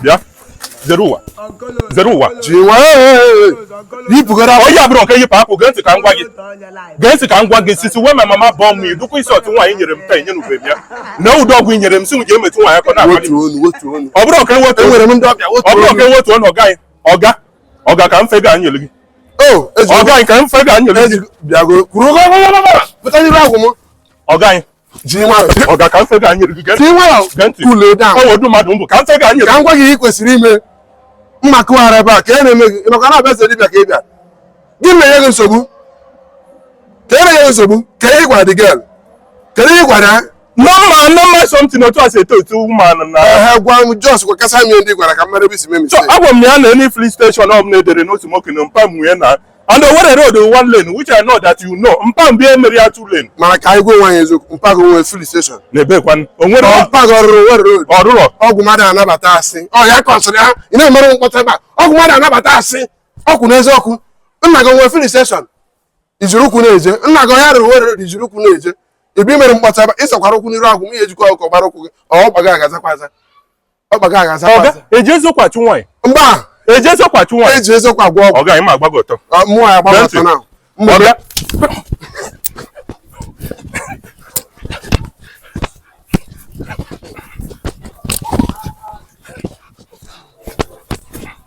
bịa zere ụwa zere ụwa jiwe yipụgara onye abụrụ nke yipụ apụ gee ntị ka m gwa gị gee ntị ka m gwa gị since wey my mama born me idukwa isi otu nwaanyị nyere m taa enye n'ube m ya na ụdị ọgwụ i nyere m sị m ji emetụ nwaanyị aka n'abalị ọ bụrụ ọka ewetu Enwere m ndị ọbịa ọ bụrụ ọka ewetu ọnụ ọga anyị ọga ọga ka mfe ga nyere gị o ọga anyị ka mfe ga nyere gị bịago kwuru pụta n'iru agwụ m ọga anyị ji nwayọ ọga ka nsị ga-anyị erugo gee ji nwayọ Gee ntị. cool down ọ wụ ụdị mmadụ m bụ ka nsị ga-anyị ka m gwa gị ihe ị kwesịrị ime mma kụwara ebe a ka e na-eme gị maka na a bịa eze dibịa ka ị bịa gị na-enye gị nsogbu ka e na-enye gị nsogbu ka ị gwara the girl kedu ihe ị gwara ya normal normal something otu a si eto etu ụmụanụ na ehe gwa m just gwakasa m ihe ndị ị gwara ka m mara ebe i si mee so mistake agwa m ya na any filling station ọbụla edere n'otu nwoke na mpa m nwe ya na And Owerri road in one lane, which I know that you know, mpa m bịa mere ya two lane. Mana ka anyị gwa onwe anyị eziokwu, mpa gị o nwe filling station. N'ebe kwanụ, o nwerọ mpa gị ọ rụrụ Owerri road. Ọ rụrọ. Ọgwụ m adị anabata asị. Ọ ya kọsịrị ya, ị na-emere m mkpọtụ ebe a. Ọgwụ m adị anabata asị. Okwu n'eziokwu. Nna gị nwe filling station. I jiri ụkwụ na-eje. Nna gị ọ ya rụrụ Owerri road i jiri ụkwụ na-eje. Ị bịa mere mkpọtụ ebe a, ị zọkwara ụkwụ n'iru agwụ m, ihe ejikọ ọkụ gbara ụkwụ gị, ọ gbaga ọ ga-azakwa aza. ọga eji eziokwu achụ nwaanyị mba eji eziokwu achụ nwaanyị eji eziokwu agwọ ọgwụ ọga ị ma agbago ọtọ mmụọ ya gbago ọtọ na ọga